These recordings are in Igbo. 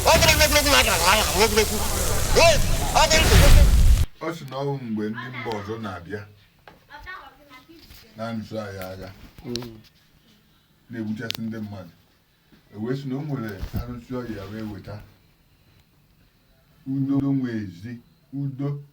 ọ bụrụ na egwuregwu na-aga na anya na egwuregwu ee ọ dị ndụ ọ sị na ọ bụ mgbe ndị mba ọzọ na-abịa na-anụso anyị agha na-egbuchasị ndị mmadụ e wee sị na o nwere arụsị ọya wee weta udo nwezi udo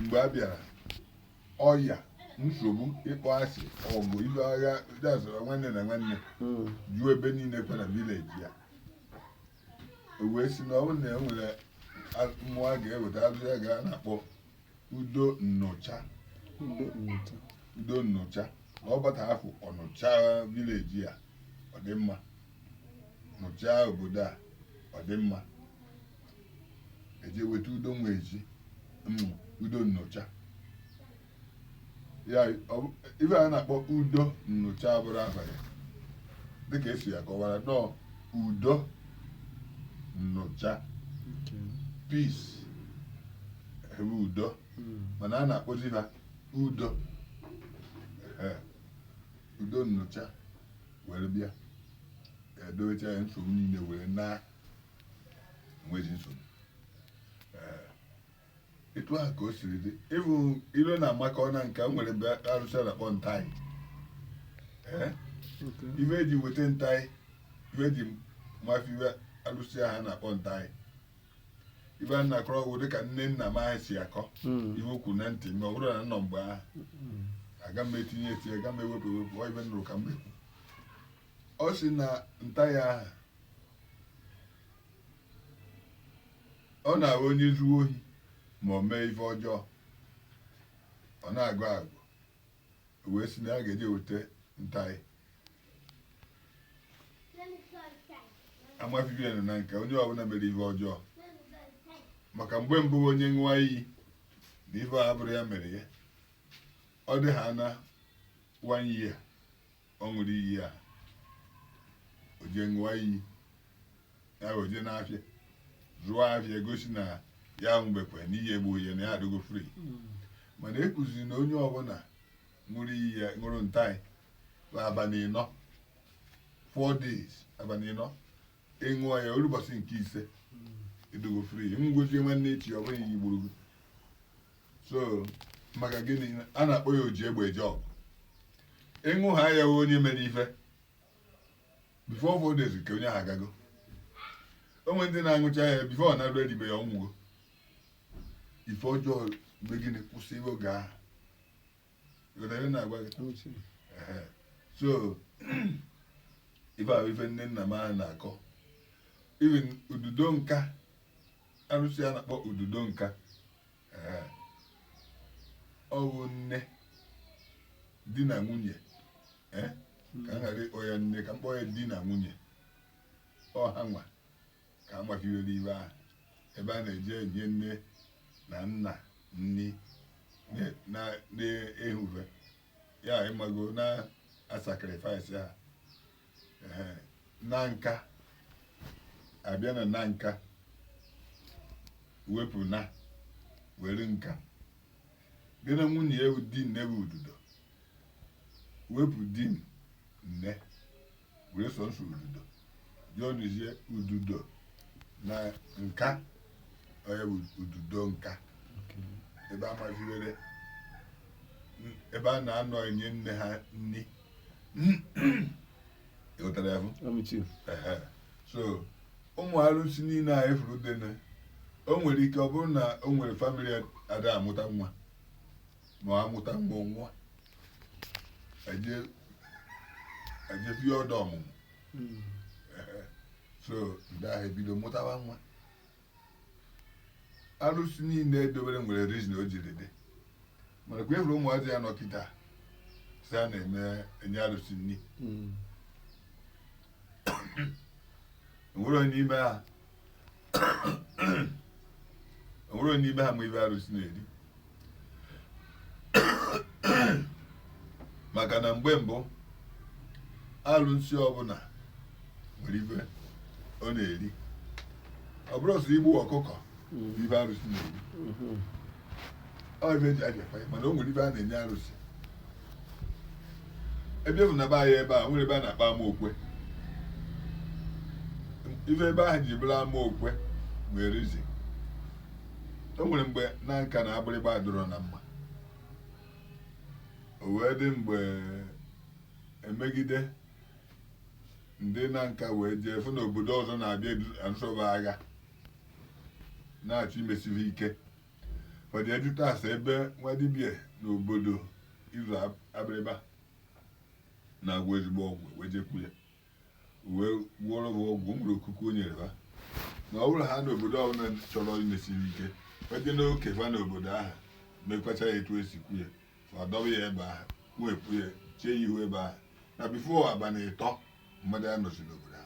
mgbe a bịara ọya nsogbu ịkpọ asị ọgụ ibe agha dasara nwanne na nwanne Mm. juo ebe niile kwa na village a o wee sị na ọ bụrụ na e nwere a- mmụọ a ga-eweta arụsị a ga na-akpọ udo nnụcha Udo nnụcha. udo nnụcha na ọ bata afụ ọ nụcha village a ọ dị mma ọ nụcha obodo a ọ dị mma e je weta udo nwezi mm, udo nnụcha ya ife a na-akpọ udo nnụcha bụrụ abalị dịka esi ya kọwara nọọ udo nnụcha peace bụ udo hmm. mana a na-akpọzi ha udo udo nnụcha were bịa edowecha ya nsogbu niile were na nwezi nsogbu etu ahụ ka o siri dị ịbụ ilo na amaka ọ na nke m nwere mgbe arụsị na-akpọ ntaị ife eji weta ntaị ife eji ma ife arụsị ahụ na-akpọ ntaị ife a na-akọrọ ọ bụ dịka nne nna m ahụ si akọ hmm. ife okwu na ntị ma ọ bụrụ na nọ mgbe ahụ hmm. aga m etinye etinye aga m ewepụ ewepụ ọ ife m nụrụ ka m ekwu ọ sị na ntaị ahụ ọ na-abụ onye zuo ohi ma o mee ife ọjọọ ọ na-agọ agọ wee sị na a ga-eje weta ntaị a ma ife bịa na nke onye ọbụla mere ife ọjọọ maka mgbe mbụ onye ṅụwa iyi na ife a abụrọ ya mere ya ọ dị ha na one year ọ ṅụrụ iyi a o jee ṅụọ iyi ya wee jee n'afịa zụọ afịa gosi na ya aṅụbekwa na iyi egbughị ya na ya adịgo free mana e kwuziri na onye ọbụla ṅụrụ iyi a ṅụrụ ntaị bụ abalị ịnọ four days abalị ịnọ ị ṅụọ ya o lue ụbọchị nke ise ị dịgo free ị nwụzie nwanne echi ọ bụghị iyi gburu gị so maka gịnị a na-akpọ ya oji egbe eje ọgụ ị ṅụhaa ya onye mere ife before four days ka onye ahụ agago o nwe ndị na-aṅụcha ya before ọ na-erudi be ya ọ nwụgo ife ọjọọ mee gịnị kwụsị oge ahụ ịghọtara ihe na-agwa gị Ehe. so ife ahụ ife nne nna m ahụ na-akọ even ududo nka arụsị a na-akpọ ududo nka Ehe. ọ bụ nne di na nwunye eh, ka m ghara ịkpọ ya nne ka m kpọọ ya di na nwunye ọ ha nwa ka a machibere ibe ahụ ebe a na-eje enye nne na nna nni na- na- na-ehuve ya ịmago na-asacrifice ha Ehe. na nka abịa na na nka wepụ na were nka bịa na nwunye ya bụ di nne bụ ududo wepụ di nne were sọnsọ ududo joinụzie ududo na nka ọ ya bụ ududo nka ebe a maziwere ebe a na-anọ enye nne ha nni ịghọtara ya bụ Ehe. so ụmụ arụsị niile a ị fụrụ dene o nwere ike ọ bụrụ na o nwere family ada amụta nwa ma ọ amụta nwa ọ nwụọ eje eje bie ọdọ ọmụmụ Mm. Ehe. so ndị ahụ ebido mụtawa nwa arụsị niile edobere nwere reason o jiri dị mana kwa ị fụrụ ụmụazị a nọ kịta si a na-eme enye arụsị nni Mm. enwerọ onye n'ime ha enwerọ onye n'ime ha ma ive arụsị na-eri maka na mgbe mbụ arụsị ọbụla nwere ive ọ na-eri ọ bụrọ sọ igbu ọkụkọ ive arụsị na-eri ọ ive eji abịakwa ya mana o nwere ive a na-enye arụsị ebe bụ na be anyị ebe a nwere ebe a na-akpọ ama okwe ife ebe ahụ ji bụrụ ama okwe nwere reason o nwere mgbe Nanka na abụrịgba adụrọ na mma o wee dị mgbe emegide ndị Nanka wee jee fụ na obodo ọzọ na-abịa anụsoba agha na-achọ imesi ha ike fọdụ ajụta ase ebe nwa dibịa n'obodo izu abịrịba na-agwọ ezigbo ọgwụ wee jekwu ya wee gwọrọ ha ọgwụ o nwere okuku o nyere ha na ọ bụrụ ha na obodo ọbụla chọrọ imesi ha ike eje n'oke fa na obodo ahụ mekwacha ya etu esi kwu ya fa dọba ya ebe ahụ wepụ ya chee ya ihu ebe ahụ na before abalị ịtọ mmadụ anọzi n'obodo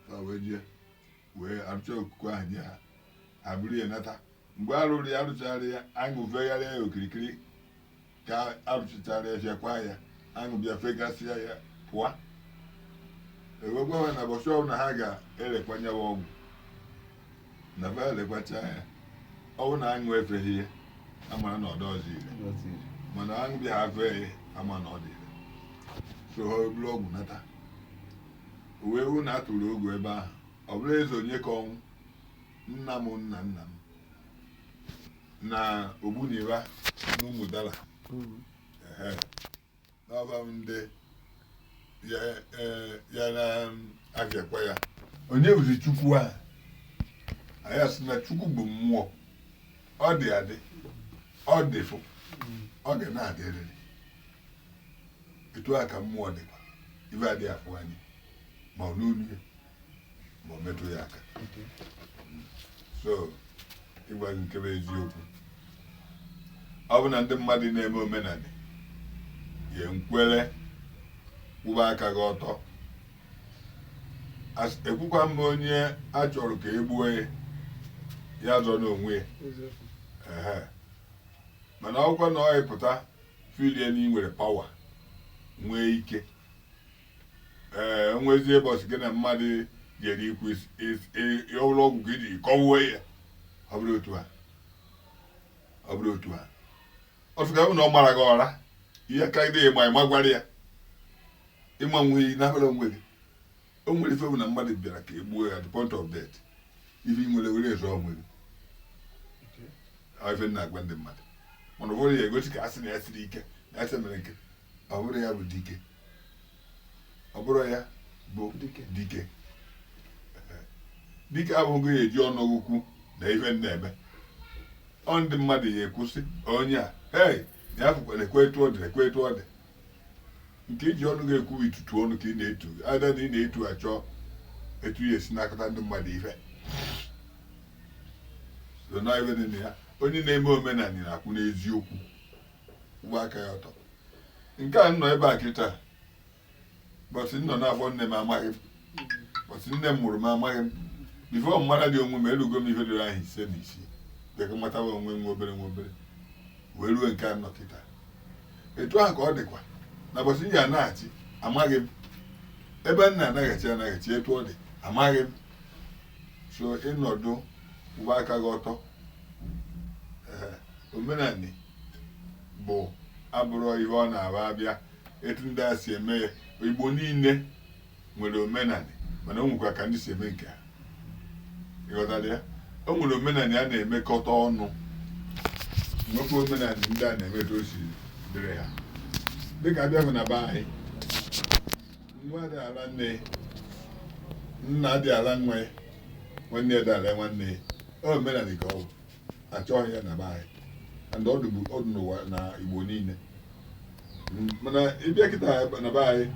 ha wee jee wee arụcha okuku ahụ nye ha ha buru ya nata mgbe a rụrụ ya a rụchara ya aṅụ fegharịa ya okirikiri ka a rụchachara ya fịakwa ya aṅụ bịa fegasịa ya pụọ e wee gwa ha na ụbọchị ọbụla ha ga-elekwa nyawa ọgwụ na fa elekwacha ya ọ bụ na aṅụ efeghị ya a mara na ọ dịrọzị ire mana aṅụ bịa fee ya a ma na ọ dị ire so ha buru ọgwụ nata o wee wụ na a tụrụ ogu ebe ahụ ọ bụrụ eze Onyekaọnwụ nna m nna nna m na ogbuniba n'Ụmụdala n'ọba ndị ya eh, ya na-afịakwa ya onye bụzi chukwu a anyị asị na chukwu bụ mmụọ ọ dị adị ọ dịfụ ọ ga na-adịrịrị etu a ka mmụọ dịkwa ife adị afụ anya ma ọ nụ olu ya ma ọ metụ ya aka so ịgwa gị nke bụ eziokwu ọ bụ na ndị mmadụ na-eme omenala ya nkwere kwụba aka gị ọtọ As- ekwukwa m onye a chọrọ ka e gbuo ya ya zọnụ onwe ya eziokwu Ehe. mana ọkwa na ọ ị pụta feelie na ị nwere power nwee ike o nwezie mbọsị gị na mmadụ jere ikwu ọbụla ọgwụ ka iji kọwuo ya ọ bụrụ otu a ọ bụrụ otu a ọ sị ka ọ bụ na ọ mara gị ụra ihe ka mma ị magwara ya ịma nwe iyi n'abụla onwe gị o nwere ife bụ na mmadụ bịara ka e gbuo ya at the point of death ife ị nwere were azọ onwe gị ife na-agwa ndị mmadụ mana ụfọdụ ya-egosi ka a sị na ya siri ike na ya sị mere nke ọ bụrụ ya bụ dike ọ bụrụ ya bụ dike dike abụghị ihe e ji ọnụ ekwu na ife ị na-eme ọ ndị mmadụ ya-ekwu sị onye a hei ya fụkwa na-ekwe etu ọ dị na-ekwe etu ọ dị nke i ji ọnụ gị ekwu itutu ọnụ ka ị na-etu ada na ị na-etu achọ etu ị ya-esi nakọta ndị mmadụ ife so na ife dị na ya onye na-eme omenala na-akwụ n'eziokwu kwụba aka ya ọtọ nke a nọ ebe a kịta mbọsị m nọ n'afọ nne m amaghị m mbọsị nne m mụrụ m amaghị m before m maralị onwe m erugo m ihe dịrị ahọ ise na isii dịka matawa onwe nwa obere nwa obere wee ruo nke a nọ kịta etu ahụ ka ọ dịkwa na mbọsị m ya-anachi amaghị m ebe m na-anachi anachi etu ọ dị amaghị m so ị nọdụ kwụba aka gị ọtọ Ee, omenani bụ abụrụ ihe ọ na-abụ a bịa etu ndị a si eme ya igbo niile nwere omenani mana o nwekwa ka ndị si eme nke ha ịghọtara ya o nwere omenani a na-emekọta ọnụ nwekwa omenani ndị a na-eme etu o si dịrị ha dịka a bịa na be anyị nwa adị ala nne nna adị ala nwa ya nwanne adị ala nwanne ya ọ omenani ka ọ bụ achọghị ya na be anyị and ọ dịbu ọ dị n'ụwa na igbo niile Mm, mana ịbịa kịta na be anyị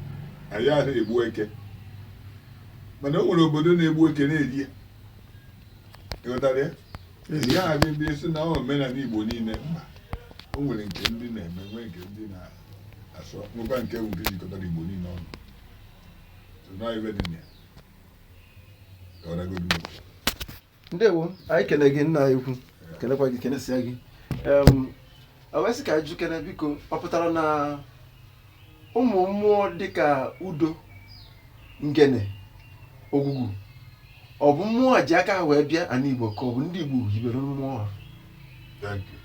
anyị adịghị egbu eke mana o nwere obodo na-egbu eke na-eri ya ịghọtara ya ị gaghị abịa bịa sị na ọ omenani igbo niile mba o nwere nke ndị na-eme nwee nke ndị na asọ nwekwa nke bụ nke jikọtara igbo niile ọnụ So, na ọ ife dị na ya ka ọ dagodu m. ndewo anyị kene gị nna anyị ukwu kenekwa gị kenesia gị Em, a wee sị ka anyị jụkene biko ọ pụtara na ụmụ mmụọ dịka udo ngene ogwugwu ọ bụ mmụọ a ji aka ha wee bịa ana igbo ka ọ bụ ndị igbo hibere mmụọ ha Thank you.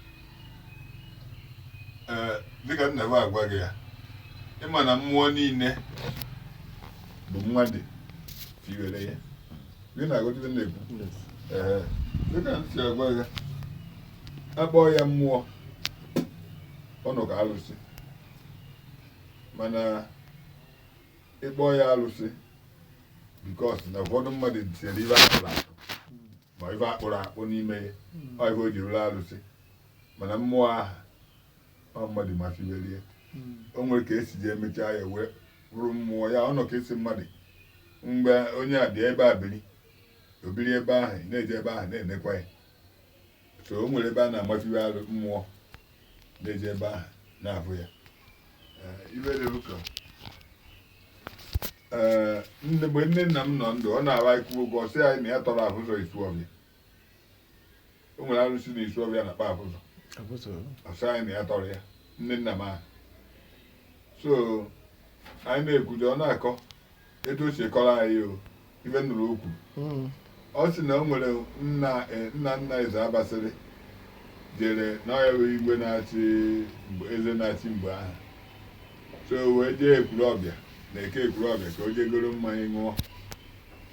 ee dịka m na-agwa gị ya ịma na mmụọ niile bụ mmadụ fiwere ya ị na-aghọta ife m na-ekwu ee dịka m si agwa gị a kpọọ ya mmụọ ọ bụghị alụsị mana ị kpọọ ya alụsị because na ụfọdụ mmadụ tinyere ife akụrụ akụ ma ife akpụrụ akpụ n'ime ya ọ ife o ji bụrụ alụsị mana mmụọ aha ọ mmadụ ma fibere ya o nwere ka esi ji emechaa ya wee bụrụ mmụọ ya ọ nọ ka esi mmadụ mgbe onye a bịa ebe a biri o biri ebe ahụ ị na-eje ebe ahụ na-enekwa ya so o nwere ebe a na-amafiwe arụ mmụọ na-eje ebe ahụ na-afụ ya Eh, ife dị ụka ee mgbe nne nna m nọ ndụ ọ na-agwa anyị okwu ọ sị anyị na ya tọrọ afụzọ Isuọfịa o nwere arụsị na Isuọfịa a na-akpọ afụzọ ọ sị anyị na ya tọrọ ya nne nna m ahụ so anyị na-ekwudo ọ na-akọ etu o si kọrọ anyị o ife m nụrụ o kwuru hmm. ọ sị na o nwere nna e, nna nna Ezeabasịrị jere na ọ ya bụ igwe na-achị eze na-achị mgbe ahụ so wee jee Ekwulọbịa na eke Ekwulọbịa ka o jee goro mmanya ṅụọ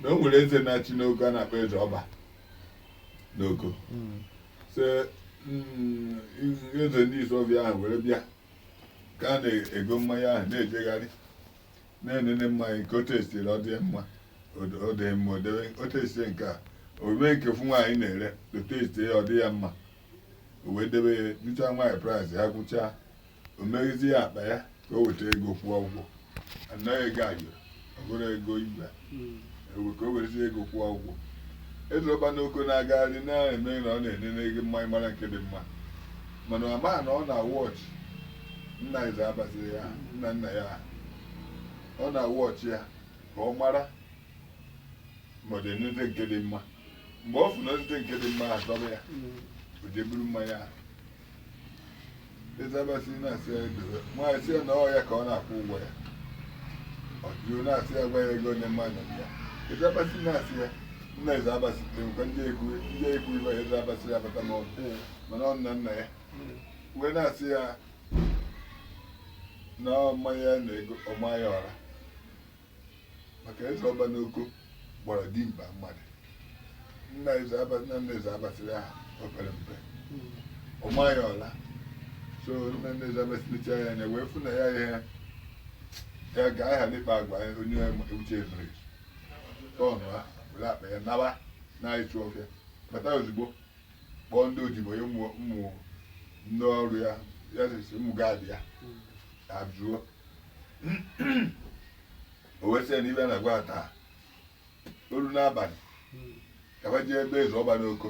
na o nwere eze na-achị n'Oko a na-akpọ eze ọba n'Oko hmm. so hmm, eze ndị Isuọfịa ahụ were bịa ka a na-ego mmanya ahụ na-ejegharị na-enene mmanya ka o testie ọ dị mma o dị mma o debe o testie nke a o nwee nke ofu nwaanyị na-ere o testie ọ dị ya mma o wee debe ya jụchaa nwaanyị praịsị ha kwuchaa o meghezi ya akpa ya ka o weta ego kwụọ ụgwọ anaghị ego ayọrọ ọ bụrụ ego igwe ewe ka o werezie ego kwụọ ụgwọ eze ọba n'oko na-agagharị na-eme na ọ na-enene ego mmanya mara nke dị mma mana ọ maa na ọ na-awọchị nna eze abasịrị ya nna nna ya aha. ọ na-awọchị ya ka ọ mara ma ọ dị enete nke dị mma mgbe ọ fụrụ na o nete nke dị mma ahụ dobe ya o jee buru mmanya ahụ eze abasịrị na-asị ya edobe nwaanyị sị ya na ọ ya ka ọ na-akwụ ụgwọ ya ọ jụrụ na-asị ya gwa ya ego onye mmadụ dị ya eze abasịrị na-asị ya nna eze abasịrị kwa m ji ekwu m ji ekwu ibe a eze abasịrị abata n'ọnụ Ee. mana ọ nna nna ya wee na-asị ya na ọ mmanya ya na-ego ọ maa ya ọra maka eze ọba n'oko gbara dimkpa mmadụ nna eze aba nna nna eze abasịrị ahụ o pere mpe ọ maa ya ọra so nna nna eze abasịrị nechaa ya anya wee fụ na ya ya ya ga aha n'ịkpa agwa ya onye uche mere tọnụa were akpa ya nawa na Isuọbịa bata ozugbo kpọọ ndị odibo ya ụmụ ụmụ ndị ọrụ ya ya sịsị ụmụ gaadị ya abụọ o wee sị ya na ibe na-agwa ya taa o ruo n'abalị ka ba jee ebe eze ọba n'oko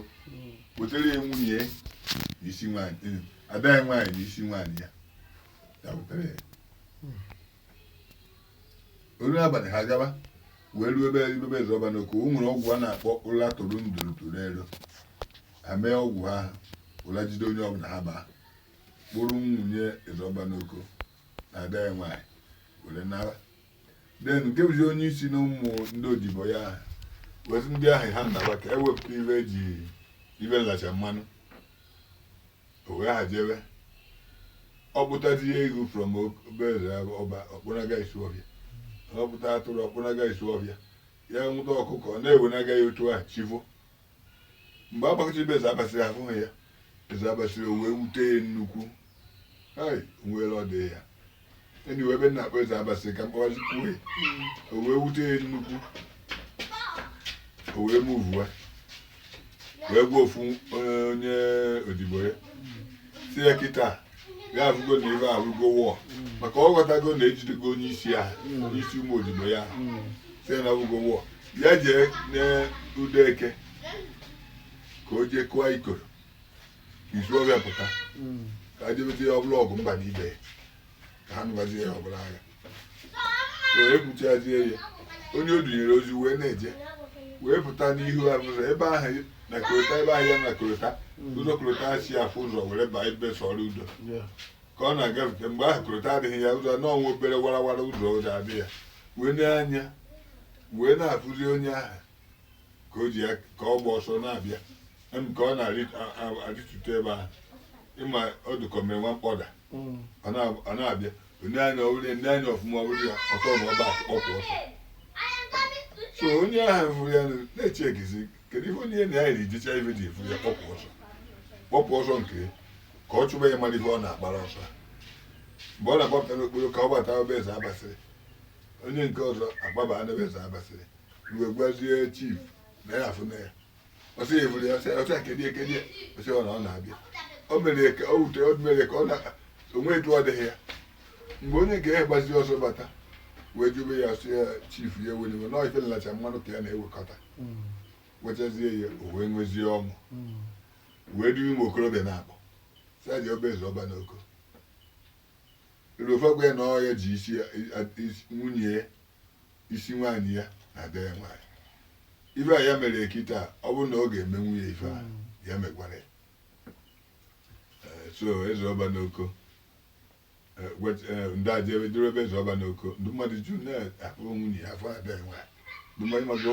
wetara ya nwunye ya na isi nwaanyị eh, ada ya nwaanyị na isi nwaanyị ya ya wetara ya o ruo n'abalị ha gaba wee ruo ebe ebe eze ọba n'oko o nwere ọgwụ a na-akpọ ụla toro nduru toro ero ha mee ọgwụ ahụ ụla jide onye ọbụla ha baa kpụrụ nwunye eze ọba n'oko na ada ya nwaanyị were naba den nke bụzi onye isi na ụmụ ndị odibo ya ahụ wezi ndị ahụ ha naba ka e wepụta ibe e ji ibe nlacha mmanụ o wee ha jebe ọ kpụtazi ya eghu from obere ọba ọ kpụnaga Isuọbịa ọ kpụta atụrụ ọ kpụnaga Isuọbịa ya nwụta ọkụkọ ọ na-ewenaga ya otu ahụ chi voo mgbe a gbakọtara be eze abasịrị ahụghị ya eze abasịrị o wee wute ya nnukwu hai o nwere ọ dị ya enyi wee ebe na-akpọ eze abasịrị ka m kpọwazikwue o wee wute ya nnukwu o wee muvue wee gwa ofu onye odibo ya sị ya kịta ya avụgo na ibe abụgo wọọ maka ọ ghọtago na e jidego onye isi ya onye isi ụmụ odibo ya sị na abụgo wọọ ya jee n'udo eke ka o jee kụọ ikoro ka Isuọbịa pụta ka a jebezi ya ọbụla ọgụ mba na ibe ya ka ha nụbazi ya ọbụla agha wee kwuchazie ya onye o dunyere ozi wee na-eje wee pụta n'ihu abụzọ ebe ahụ na korota ebe ahụ ya na korota ụzọ korota si afụ ụzọ were baa ebe sọrọ udo ka ọ na-agafe mgbe ahụ korota adịghị ya ụzọ na ọ nwa obere warawara ụzọ ụzọ adị ya wee nee anya wee na-afụzi onye ahụ ka o ji ya ka ọ gba ọsọ na-abịa em ka ọ na-arịtute ebe ahụ ị ma ọ dụ ka o mere nwa mkpọda ọ na- ọ na-abịa o nee anya ọ wụrụ ya ndị anya ọfụma ọ wụrụ ya ọtọ na ọba kpọpụ ọsọ so onye ahụ fụrụ ya nụ, na-eche egizi kedu ihe onye na ya yiri jicha ife ji afụ ya kpọpụ ọsọ kpọpụ ọsọ nke ya, ka ọ chụba ya mara ihe ọ na-agbara ọsọ a. mgbe ọ na-agbapụta n'okporo ka ọ gbata be eze abasịrị onye nke ọzọ agbaba na be eze abasịrị mgbe gwazie chief na ya afụ na ya ọ sị ya ị fụrụ ya ọ sị ya- ọ sị ya kedie kedie ọ sị ya ọ na ọ na-abịa o mere ya ka o wute o mere ya ka ọ na o nwe etu ọ dịghị ya mgbe onye nke a gbazi ọsọ bata wee jube ya ọ sị ya chief ya ewena iwe na ife nlacha mmanụ ka ya na-ewekọta wechazie ya o wee nwezie ọṅụ wee duru ụmụ okorobịa na-akpọ saji be eze ọba n'oko ruo fa agwa ya na ọ ya ji isi ya- isi- nwunye ya isi nwaanyị ya na ada ya nwaanyị ife a ya mere kịta ọ bụrụ na ọ ga-emenwu ya ife a ya megwara ya Eh, so eze ọba n'oko eh, wet- eh, ndị aja ebe duru ebe eze ọba n'oko ndị mmadụ ju na-akpọ nwunye ya afụ ada ya nwaanyị ndị mmadụ mago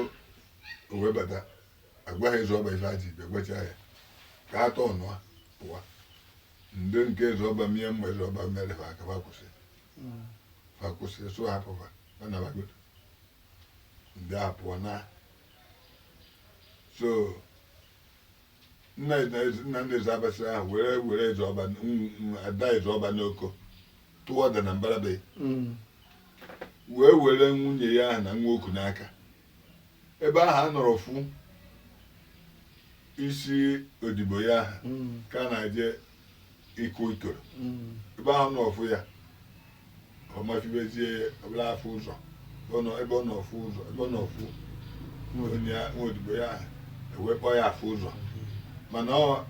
o wee bata agwa ha eze ọba ife aji ibe gwacha ya ka atọ ọnụa pụwa ndị nke eze ọba mie mma eze ọba mere fa aka fa kwụsị fa kwụsị so hapụ fa anabagodo ndị a pụọ na so nna Eze- nna nna eze abasị ahụ were were eze ọba n- n- ada eze ọba n'oko tụọ ọda na mbarabe Mm. wee were nwunye ya ahụ na nwa o ku n'aka ebe ahụ ọ nọrọ fụ isi odibo ya ahụ Mm. ka a na-eje ịkụ ikoro Mm. ebe ahụ nọọ fụ ya ọ mafibezie ọ bụla afụ ụzọ ọ nọ- ebe ọ nọọ fụ ụzọ ebe ọ nọọ fụ onye ya- nwa odibo ya ahụ e wee kpọọ ya afụ ụzọ mana ọ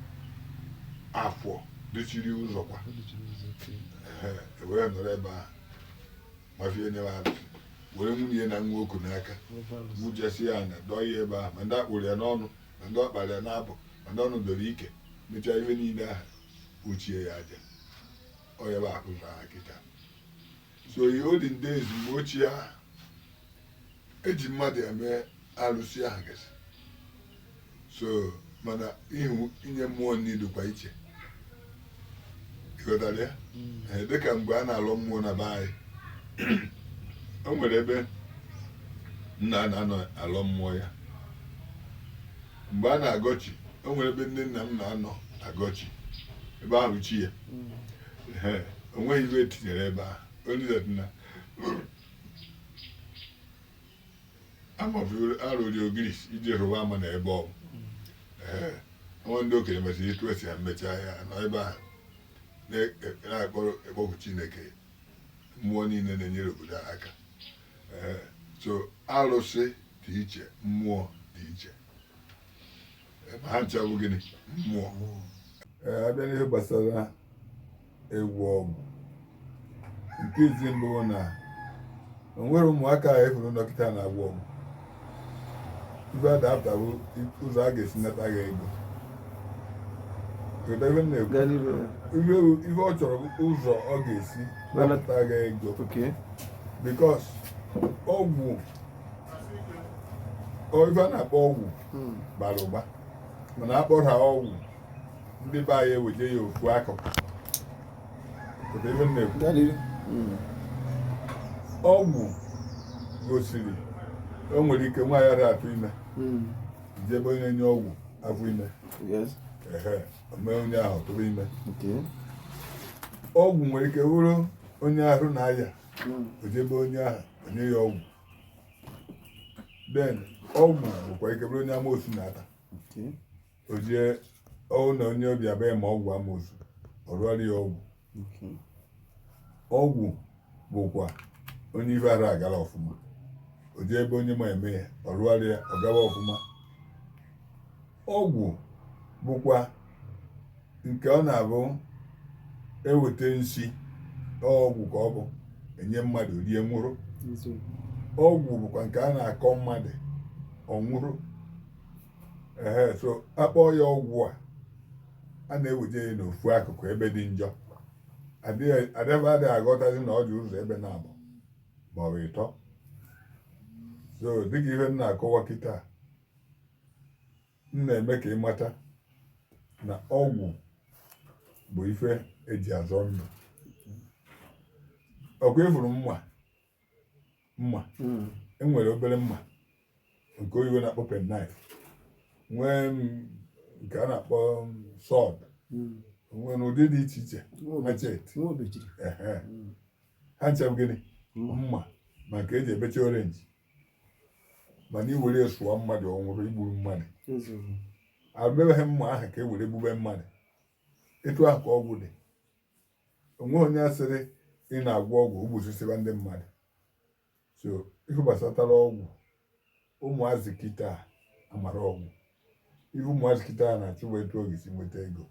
afọ dịchiri ụzọ kwa Ọ dịchiri ụzọ, okay. Ehe, e wee nọrọ ebe ahụ mafie nyewa alụsị were nwunye na nwa o ku n'aka mụchesi ya anya dọọ ya ebe ahụ ma ndị a kpụrụ ya n'ọnụ ma ndị ọ kpara ya n'abụ ma ndị ọnụ doro ike mechaa ife niile ahụ kpuchie ya aja ọ ya bụ akpụrụ aha kịta so ihe olden days mgbe ochie ahụ eji mmadụ eme alụsị ahụ gasị so mana ihu inye mmụọ nri dịkwa iche ịghọtara ya Ee, dịka mgbe a na-alọ mmụọ na be anyị o nwere ebe nna m na-anọ alọ mmụọ ya mgbe a na-agọ chi o nwere ebe nne nna m na-anọ agọchi ebe ahụ chi ya Ee, o nweghị ife etinyere ebe ahụ only that na amaburu arụrụ ogirisi iji rụwa ama na ebe ọ bụ Ee, nwa ndị okenye mesịrị etu esi ya mechaa ya nọ ebe ahụ na- na-akpọku chineke mmụọ niile na-enyere obodo a aka Ee, so arụsị dị iche mmụọ dị iche Ee, ma ha ncha bụ gịnị mmụọ Ee, abịa n'ihe gbasara ịgwọ ọgwụ nke izi mbụ na o nwere ụmụaka a efuru dọkịta na-agwọ ọgwụ ife a dapụtawo ụzọ a ga-esi nata gị ego Ihe o- ihe ọ chọrọ bụ ụzọ ọ ga-esi Nana- napụta gị ego because ọgwụ ọ- ife a na-akpọ ọgwụ bara ụba mana akpọrọ ha ọgwụ ndị be anyị eweje ya ofu akụkụ ọgwụ gosiri o nwere ike nwaanyị ara atụ ime hmm. jee be onye nye ọgwụ afọ ime mee onye ahụ tụrụ ime ọgwụ nwere ike wụrụ onye ahụ na-aya hmm. o jee be onye ahụ o nye ya ọgwụ then ọgwụ nwekwa ike bụrụ onye amosu na-ata o jee ọ wụ na onye ọ bịa be ya ma ọgwụ amosu ọ rụọrọ ya ọgwụ ọgwụ bụkwa onye ife ara agara ọfụma o jee ebe onye ma eme ya ọ rụọrọ ya ọ gawa ọfụma ọgwụ bụkwa nke ọ na-abụ eweta nsi ọgwụ ka ọ bụ enye mmadụ rie nwụrụ ọgwụ bụkwa nke a na-akọ mmadụ ọ nwụrụ ehe so akpọọ ya ọgwụ a a na-eweje ya n'ofu akụkụ ebe dị njọ adịghị adịghị aghọtazi na ọ dị ụzọ ebe naabọ ma ọ bụ ịtọ so dịka ife m na-akọwa kịta m na-eme ka ị mata na ọgwụ bụ ife eji azọ ndụ ọkwa ịfụrụ mma mma hmm. e nwere obere mma nke oyibo na-akpọ penknife nwee nke a na-akpọ sword hmm. nwere ụdị dị iche iche machete hmm. ha ncha bụ gịnị mma ma nke e ji ebecha orange mana i were sụọ mmadụ ọ nwụrụ i gburu mmadụ arụbebeghị mma ahụ ka e were gbube mmadụ etu ahụ ka ọgwụ dị o nwe onye a sịrị ị na-agwọ ọgwụ gbusisiba ndị mmadụ so ife gbasatara ọgwụ ụmụazị kịta amarọ ọgwụ ife ụmụazị kịta a na-achụ bụ etu ọ ga-esi nweta ego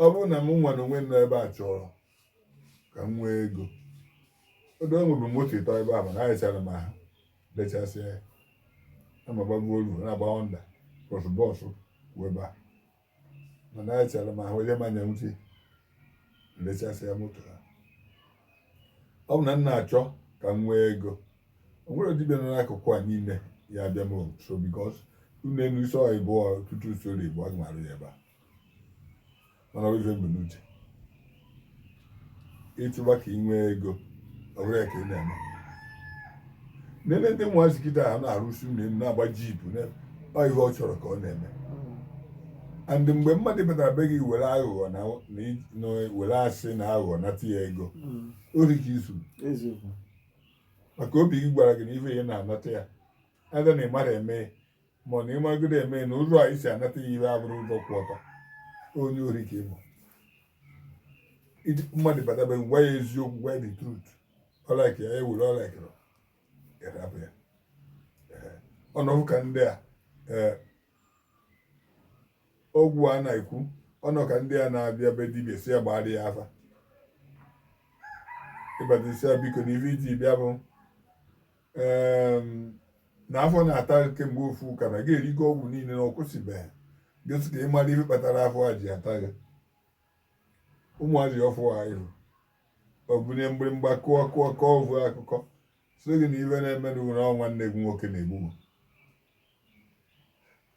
ọ bụrụ na m nwa na onwe nọ ebe a chọrọ ka m nwee ego odo nwebụ moto ịtọ ebe a mana arịchara m ahụ lechasịa ya amagbago olu na-agba ọnda bọsụ bọsụ weba mana arịchara m ahụ onye manya uche lechasịa moto ha ọ bụ na m na-achọ ka m nwee ego o nwere dibịa nọ n'akụkụ a niile ya abịa m nso because ụnọ enu isi ọha ịbụọ tutu usoro igbo aga m arụ ya ebe a mana ọ bụ ife m bu n'uche ịchụba ka ị nwee ego ọ bụrụ ya ka ị na-eme nene ndị ụmụazị kịta ha na-arụsi ụnọ enu na-agba jeep na- ọ ihe ọ chọrọ ka ọ na-eme and mgbe mmadụ batara be gị were aghụghọ na na i- na were asị na aghụghọ nata ya ego ori ka i zu eziokwu maka obi gị gwara gị na ife ị na-anata ya ada na ị marọ eme ma ọ na ị magodi eme na ụzọ a i si anata ya ihe abụrọ ụzọ kwụ ọtọ onye ori ka ị bụ mmadụ bataba gwa ya eziokwu gwa ya the truth ọ like ya were ọ like ya rapụ ya ọ nọbu ka ndị a eh, ọgwụ a na-ekwu ọ nọ ka ndị a na-abịa be dibịa sị ya gbara ya afa ị bata ị sị ya biko na ife i ji bịa bụ na afọ na-ata kemgbe ofu ụka na gị erigo ọgwụ niile na ọ kwụsịbeghị gị sị ka ị mara ife kpatara afọ a ji ata gị ụmụazị ọfụụ ahụ o bunye mgbịrịmgba kụọ kụọ kọọ o vu akụkọ sị gị na ife na-eme na ụra nwanne gị nwoke na-egbu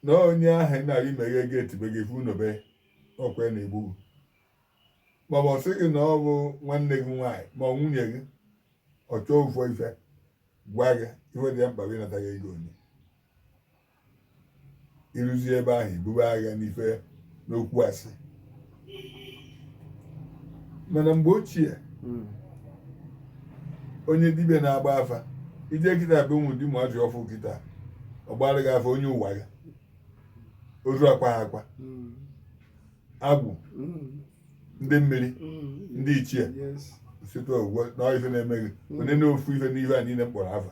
na onye ahụ ị na-aga imeghe gate be gị funobe ọ kwa na-egbu maọbụ ọ sị gị na ọ bụ nwanne gị nwaanyị ma ọ nwunye gị ọ chọọ ofu ife gwa gị ife dị ya mkpa ji nata gị ego onye i ruzie ebe ahụ i bube agha n'ife n'okwu asị mana mgbe ochie hmm. onye dibịa na-agba afa i je kịta be ụmụ dibịa ụmụazị ọfụ kịta ọ gbara gị afa onye ụwa ya ozu akwaha akwa hmm. agwụ hmm. ndị mmiri ndị ichie site ugbu na ife na-eme gị onye na ofu ife n'ife a niile m kpọrọ afa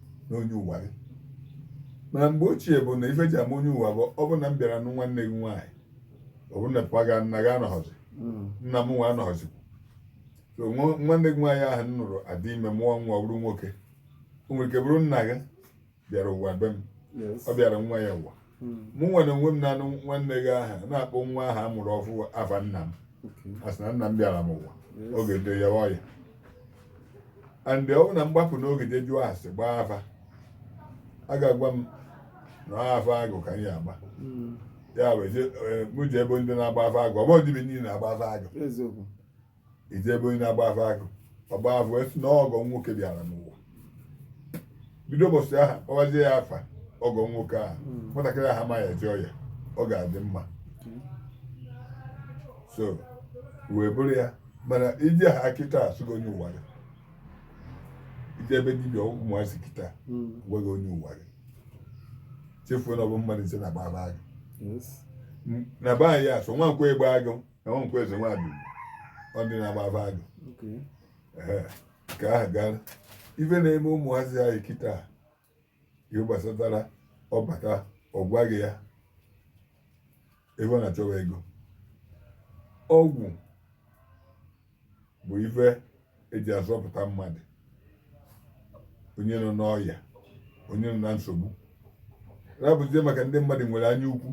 na onye ụwa gị mana mgbe ochie bụ na ife e ji ama onye ụwa bụ ọ bụ na m bịara nụ nwanne gị nwaanyị ọ bụ na papa gị nna gị anọghọzi mm. nna m nwa anọghọzi so nwanne gị nwaanyị ahụ m nụrụ adị ime mụọ nwa ọ bụrụ nwoke o nwere ike bụrụ nna gị bịara ụwa be m ọ bịara nwa ya ụwa hmm. mụ nwa n'onwe m na-anụ nwanne gị ahụ na-akpọ nwa ahụ a mụrụ ọfụ afa nna m asị na nna m bịara m ụwa ọ ga-adị aya ọya and ọ bụ na m gbapụ n'oge je jụọ ase gbaa afa a ga-agwa m na afa agụ ka anyị agba hmm. ya bụ e, mụ je ebe ndị na-agba afa agụ ọ bụ dibịa niile na-agba afa agụ i je ebe onye na-agba afa agụ ọ gbaa afa wee sị na ọgọ nwoke bịara n'ụwa bido ụbọchị ahụ kpọwazie ya afa ọgọ nwoke ahụ hmm. nwatakịrị ahụ amaghị eje ọya ọ ga-adị mma so wee bụrụ ya mana i je afa kịta a sị gị ọ onye ụwa gị i je ebe dibịa ụmụazị kịta hmm. gwa gị onye ụwa gị chefuo na ọ bụ mmadụ ise na-agba agụ na be anyị a sị Nwankwọ egbe agụ Nwankwọ eze nwaanyị ọ dị na-agba afa agụ nke ahụ gara ife na-eme ụmụazị anyị kịta ihe gbasatara ọ bata ọ gwa gị ya ebe ọ na-achọwa ego ọgwụ bụ ife eji azọpụta mmadụ onye nọ n'ọya onye nọ na nsogbu rapụzie maka ndị mmadụ nwere anya ukwu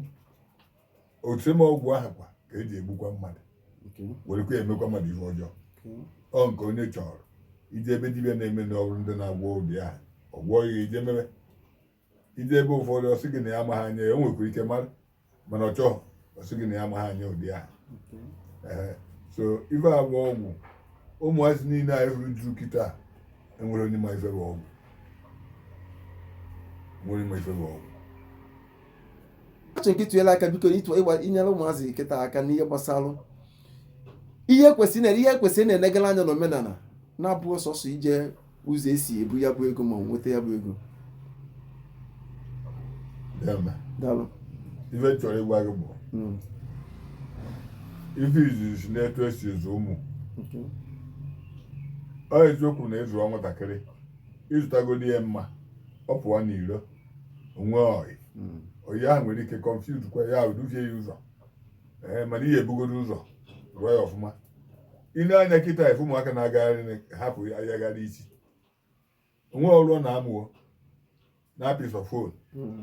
otu same ọgwụ ahụ kwa ka eji egbukwa mmadụ werekwa emekwa mmadụ ihe ọjọọ ọ nke onye chọrọ i je ebe dibịa na-eme na ọrụ ndị na-agwọ ụdị ahụ ọ gwọọ ya i je mebe i je ebe ụfọdụ ọ sị gị na ya amaghị anya ya o nwekwara ike mara mana ọ chọghị ọ sị gị na ya amaghị anya ụdị ahụ so ife agwọ ọgwụ ụmụazị niile anyị hụrụ juru kịta enwere onye ma ife bụ ọgwụ nwere ma ife bụ ọgwụ achọrọ m ka i tinyela aka biko ịtụ ịgba inyere ụmụazị kịta aka n'ihe gbasara ihe kwesịrị na ihe kwesịrị na-enegara anya na omenala na-abụghị sọsọ ije ụzọ esi ebu ya bụ ego ma ọ nweta ya bụ ego Deeme. daalụ Ife m chọrọ ịgwa gị bụ Mm, ife izizi n'etu esi azụ ụmụ okay. ọ eziokwu na ị zụọ nwatakịrị ị zụtagodi ya mma ọ pụọ n'iro o nwee ọyị hmm. ọyị ahụ nwere ike confuse kwa ya duvie ya ụzọ ee mana e bugodo ụzọ zụọ ya ọfụma ile anya kịta ị fụ ụmụaka na-agagharị hapụ ayagharị isi o nwe ọrụ ọ na-amụ ọ na-apịsọ fon hmm.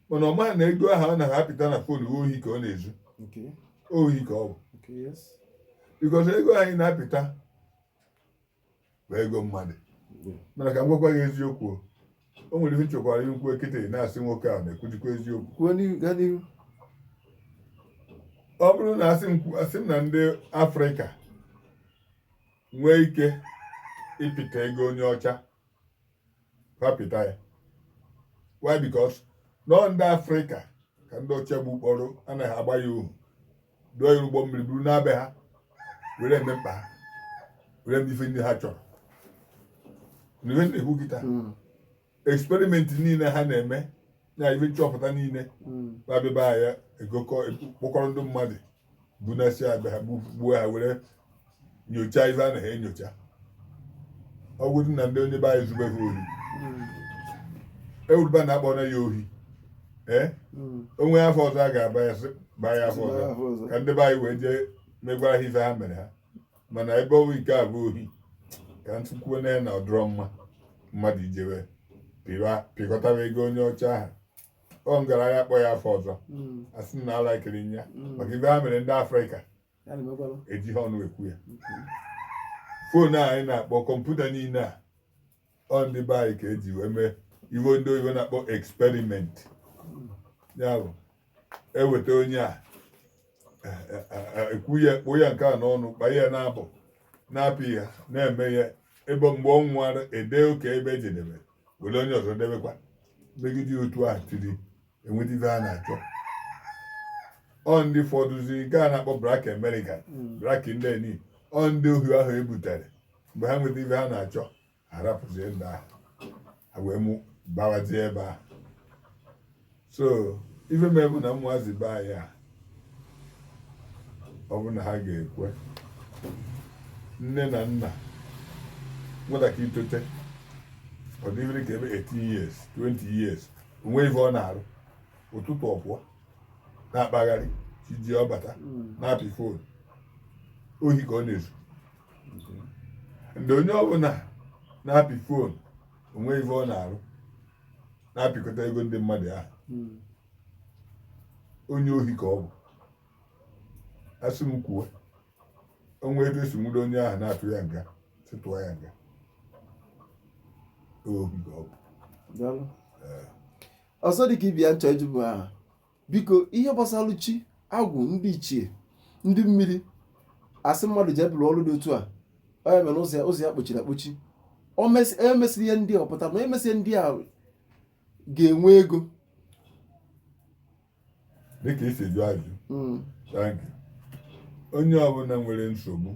mana ọ maghị na ego ahụ ọ na-apịta na fon ohi ka ọ na-ezu ohi ka ọ bụ bikos ego anyị na-apịta bụ ego mmadụ mana ka m gwakwa gị eziokwu o. o nwere ihe m chọkwara ikwu kịta na-asị nwoke a na-ekwujikwa eziokwu kwuo n'ihu gaa n'ihu ọ bụrụ na asị m kwu- asị m na ndị afrịka nwee ike ịpịta ego onye ọcha ha pịta ya why because na ọ ndị afrịka ka ndị ọcha bupụrụ anaghị agba ya ohu dụọ ya ụgbọ mmiri buru naa be ha were eme mkpa ha were eme ife ndị ha chọrọ na ihe na-ekwu kịta hmm. eksperimenti niile ha na-eme na ife nchọpụta niile mm, babịba ya egokọ kpọkọrọ ndị mmadụ bunasịa be ha gbu- gbuo ha were nyochaa ife ha na-enyocha ọ bụrụ na ndị onye be anyị zube ha ohi mm, ewuruba na akpọrọ ya ohi ee mm, o nwe afa ọzọ a ga-aba ya sị baa ya afa ọzọ ka ndị be anyị wee jee megwara ha ife ha mere ha mana ebe ọ bụ nke a bụ ohi ka m tụkwuo na ya na ọ dịrọ mma mmadụ ijebe pịkọtaba ego onye ọcha ahụ ọ m gaara akpọ ya afa ọzọ hmm. asị na ala ekiri ya hmm. maka ife ha mere ndị afrịka ejighị ọnụ ekwu ya hmm. foonu a anyị na-akpọ kọmputa niile a ọ ndị be anyị ka eji wee mee ife ndị oyibo na-akpọ experiment ya bụ eweta onye a ekwu ya kpoo ya nke a n'ọnụ kpa ya na-abụ na-apị ya na-eme ya ebe mgbe ọ nwụwara ede oke ebe ejedebe were onye ọzọ debekwa megide otu a till e nweta ife a na-achọ ọ ndị fọdụzi nke a na-akpọ black american black indian ọ ndị ohi ahụ ebutere mgbe ha nweta ife ha na-achọ ha rapụzie ndị ahụ ha wee mụbawazie ebe ahụ so ife m bụ na ụmụazị be anyị a ọ bụ na ha ga-ekwe nne na nna nwatakịrị itote ọ dị ife dị ka ebe 18 years 20 years o nwe ife ọ na-arụ ụtụtụ ọ pụọ na-akpagharị chi jie ọ bata hmm. na-apị fon ohi ka ọ na-ezu ndị onye ọbụla na-apị fon onwe ife ọ na-arụ na-apịkọta ego ndị mmadụ ahụ hmm. onye ohi ka ọ bụ asị m kwuo o nwee ebe e si nwudo onye ahụ na-atụ ya nga sị tụọ ya nga ohi ka ọ bụ ọzọ dị ka ibe ya m chọ ịjụ bụ aha biko ihe gbasara chi agwụ ndị ichie ndị mmiri asị mmadụ jee bulu ọrụ dị otu a onye mere ụzọ ya kpochiri akpochi emesịrị e ihe ndị a ọ pụta na emesịa ndị a ga-enwe ego dịka i si jụ ajụ hmm. onye ọbụla nwere nsogbu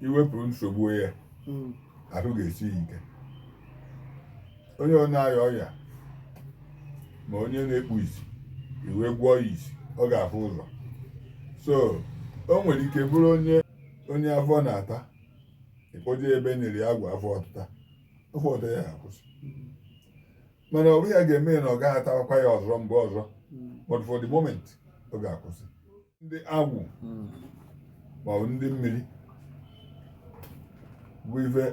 i wepụrụ nsogbu ya hmm. ahụ ga-esi ike onye ọ na-arịa ọrịa ma onye na-ekpu isi i wee gwọọ ya isi ọ ga-afụ ụzọ so o nwere ike bụrụ onye onye afọ na-ata ị kpọje ebe nyere ya ọgwụ afọ ọtụta afọ ọtụta ya akwụsị mana ọ bụghị ya ga-eme na ọ gaghị atakwa ya ọzọ mgbe ọzọ but for the moment ọ ga-akwụsị ndị agwụ hmm. maọbụ ndị mmiri bụ ife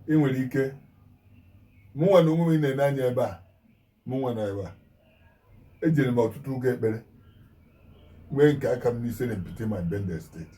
ị nwere ike mụnwa na onwe m na-ene anya ebe a mụnwa nọ ebe a ejere m ọtụtụ ụka ekpere nwee nke aka m n'Isele Mkpitime na Bendel steeti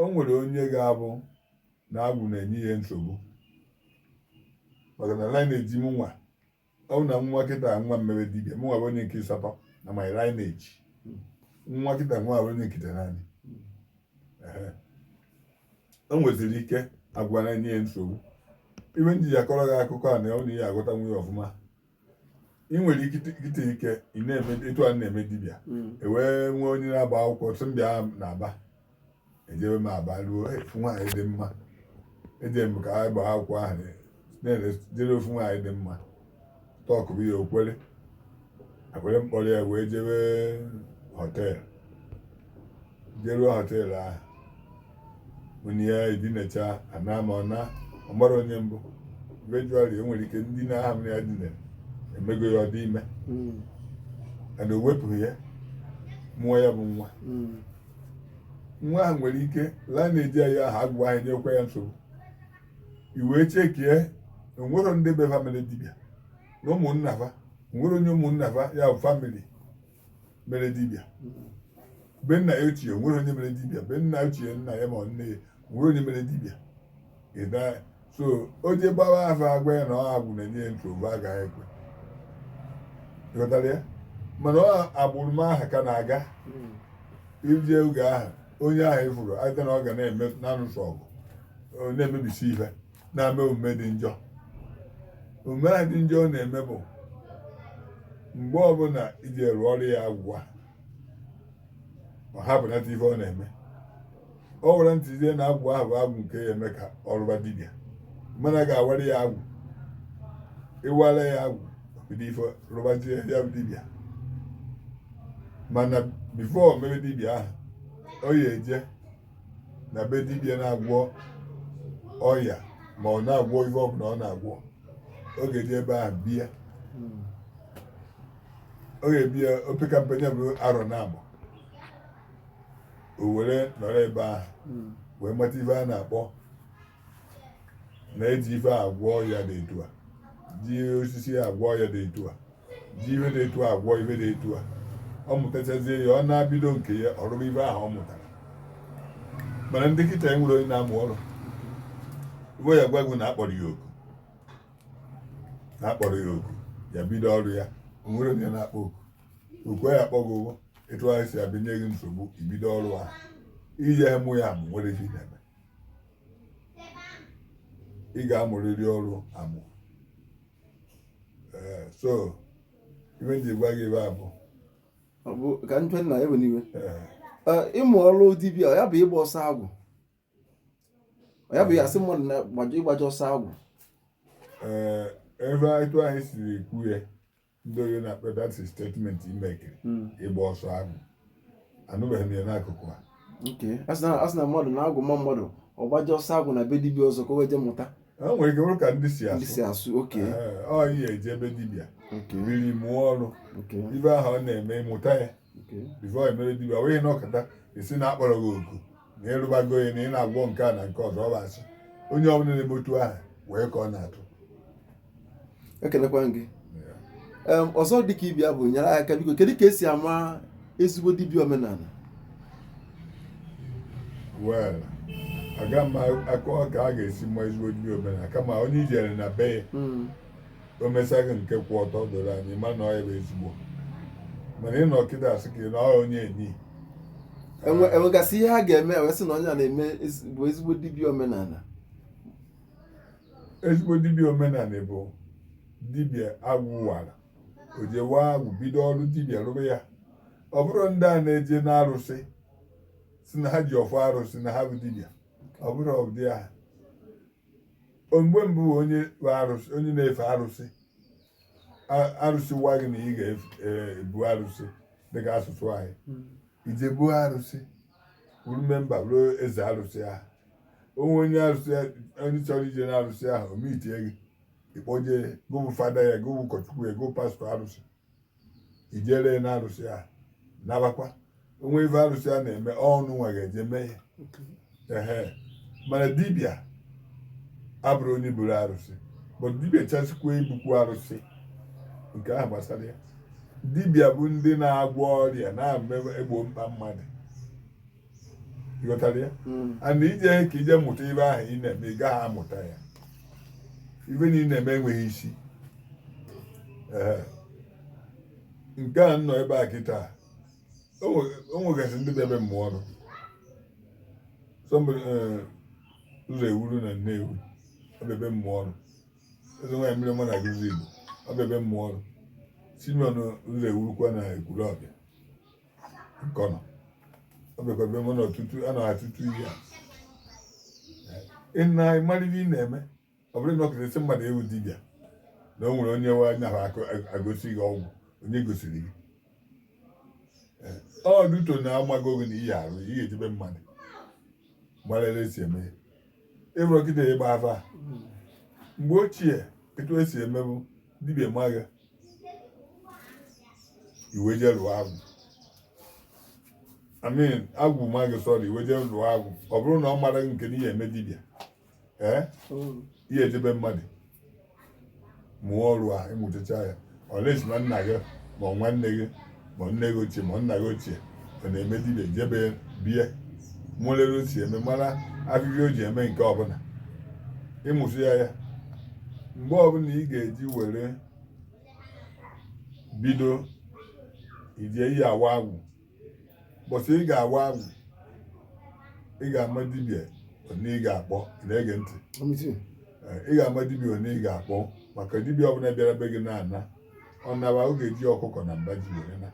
o nwere onye ga-abụ na agwụ na-enye ya nsogbu maka na lineage mụnwa ọ bụ na nwa kịta nwa emebe dibịa mụnwa bụ onye nke ịsatọ na my lineage nwa kịta nwa bụ onye nke itenaanị o nweziri ike agwụ na-enye ya nsogbu ihe m ji akọrọ gị akụkọ a na ụnụ ghọtanwu ya ọfụma ị nwere ike ite ike ị na-eme etu a na-eme dibịa mm. ewee nwee onye na-agba akwụkwọ sị m bịa n'Aba ejebe m Aba ruo afụ nwaanyị dị mma eje m ka anyị gbaa akwụkwọ ahụ na-ejere ofu nwaanyị dị mma tọkụbe ya o kwere ekwere m kpọrọ ya wee jebe họteelụ jeruo họteelụ ahụ mụ na ya edinacha ana ma ọ na ọ marọ onye m bụ eventually e nwere ike ndina ahụ mụ ya dinara emego ya ọ dị ime mm. ana o wepụghị ya mụọ ya bụ nwa mm. nwa ahụ nwere ike laa na-eji ya ahụ agwụ ahụ nyekwa ya nsogbu i wee chekie o nwerọ ndị bụ famili dibịa na ụmụnna fa nwere onye ụmụnna fa ya bụ famili mere dibịa be nna ya ochie nwere onye mere dibịa be nna ochie nna ya ma nne ya nwere onye mere dibịa so o je gbawa afa agwa ya na ọ agwụ na-enye ya nsogbu agaghị ekwe ịghọtara ya mana ọ agbụrụ m aha ka na-aga hmm. ije oge ahụ onye ahụ ifuru aja na ọ ga na-eme na-anụsi ọgụ na-emebisi ihe na-eme omume dị njọ omume a dị njọ ọ na-eme bụ mgbe ọbụla e je rụọrọ ya agwụ a ọ hapụnata ife ọ na-eme ọ were ntụzie na agwụ ahụ bụ agwụ nke ya eme ka ọ rụba dibịa mana a ga-awara ya agwụ ịwara ya agwụ bido ife rụbazie ya bụ dibịa mana before o mebe dibịa ahụ ọ ya-eje na be dibịa na-agwọ ọya ma ọ na-agwọ ife ọbụla ọ na-agwọ ọ ga-eje ebe ahụ bie ọ ga-ebi ya opeka mpe ya bụ arọ naabọ o were nọrọ ebe ahụ wee mata ife a na-akpọ na e ji ife agwọ ọya dị etu a ji osisi agwọ ọya dị etu a ji ife dị etu a agwọ ife dị etu a ọ mụtachazie ya ọ naa bido nke ya ọ rụba ife ahụ ọ mụtara mana ndị kịta nwere onye na-amụ ọrụ ife ọ ya-agwa gị na a kpọrọ ya oku na a kpọrọ ya oku ya bido ọrụ ya o nwere onye na-akpọ oku oku ya akpọ gị ụgwọ etu anyị si abịa nye gị nsogbu ibido ọrụ ahụ ị je mụọ ya amụ nwere ihe na-eme ị ga-amụrịrị ọrụ amụ ee so ife m ji gwa gị ebe a bụ Ọ bụ ka njọ nna ya bụ n'iwe ee Ee, ịmụ ọrụ dibịa ya bụ ịgba ọsọ agwụ ya bụ ya sị mmadụ na gbaje ịgbaje ọsọ agwụ ee ebe etu anyị siri ekwu ya ndị Oyi na-akpọ that statement imekiri hmm. ịgba ọsọ agwụ anụbeghị m ya n'akụkụ a a sị na mmadụ na agwụ maa mmadụ ọ gbaje ọsọ agwụ na be dibia ọzọ ka o wee je mụta o nwere ike bụrụ ka ndị si asụ ọ ị ya-eje ebe dibia riri mụọ ọrụ ife ahụ ọ na-eme ị mụta ya before i mere dibia wee nọkata ị sị na a kpọrọ gị oku na ị rụbago ya na ị na-agwọ nke a na nke ọzọ ọ bụ asị onye ọbụla na-eme otu ahụ wee ka ọ na-atụ ekelekwaa m gị Em, ọzọ dị ka ibe ya bụ nyere aka biko kedu ka e si ama ezigbo dibịa omenala well aga m akọ ka a ga-esi ama ezigbo dibịa omenala kama onye i jere na be ya Mm, o mesaghị nke kwụ ọtọ doro anya ị ma na ọ bụ ezigbo mana ị nọ kịta asị ka ị na ọ onye enyi Enwe- enwegasị ihe ha ga-eme wee sị na onye a na-eme ezi- bụ ezigbo dibịa omenala ezigbo dibịa omenala bụ dibịa agwụ wara o je waa agwụ bido ọrụ dibịa rụrụ ya ọ bụrọ ndị a na-eje n'arụsị sị na ha ji ọfọ arụsị na ha bụ dibịa ọ bụrọ ụdị ahụ mgbe mbụ onye arụsị onye na-efe arụsị arụsị gwa gị na ị ga-ebu e, arụsị dịka asụsụ anyị hmm. i je buo arụsị bụrụ memba ruo eze arụsị ahụ o nwee onye arụsị onye chọrọ ije na arụsị ahụ o meetie gị ị kpọje gụ bụ fada ya gụ bụ ụkọchukwu ya gụ bụ pastọ arụsị i jere na arụsị a nabakwa o nwee ife arụsị a na-eme ọ gị nwa ga-eje mee ya ehe mana dibịa abụrọ onye buru arụsị bụ dibịa chọsikwa ibukwu arụsị nke ahụ gbasara ya dibịa bụ ndị na-agwọ ọrịa na-egbo mkpa mmadụ ị ghọtara ya hmm. a na-eje ka i je mụta ife ahụ ị na-eme ị gaghị amụta ya ife na ị na-eme enweghị isi nke a nọ ebe a kịta o nwegasị ndị bịa be m mụọ ọrụ eh, ụzọewuru na nnewi ọ bịa be m mụọ ọrụ eze nwaanyị mmiri mma na agụlụzigbo ọ bịa be m mụọ ọrụ simeon ụzọewurukwa na ekwulọbịa nkọnọ ọ bịakwa be mụ na ọtụtụ a na atụtụ ihe a ị na-amara ihe ị na-eme ọ bụrụ na ọ kụrụ esi mmadụ ewu dibịa na o nwere onye nwe anya ahụ akụ- agosi gị ọgwụ onye gosiri gị Ee, ọ duto na ọ mago gị na ị ya-arụ ị ga-eje be mmadụ mara ebe esi eme ya ịbụrụ kịta ịgba afa mgbe ochie etu esi emebu dibịa ma gị i wee jee lụọ agwụ I mean agwụ ma gị sorry i wee jee lụọ agwụ ọ bụrụ na ọ mara gị nke na ị ya-eme dibịa ee ị ya-eje be mmadụ mụọ ọrụ a ị mụtacha ya unless na nna gị ma ọ nwanne gị ma nne gị ochie ma nna gị ochie ọ na-eme dibịa jebe be ya mụlere o si eme mara ahịhịa o ji eme nke ọbụla ị mụsịa ya mgbe ọbụla ị ga-eji were bido ije ị ya-awa agwụ mbọsị ị ga-awa agwụ ị ga-ama dibịa onye ị ga-akpọ na-ege ntị ị ga-ama dibịa onye ị ga-akpọ maka dibịa ọbụla bịara be gị na-ana ọ naba ọ ga-eji ọkụkọ na mba ji were na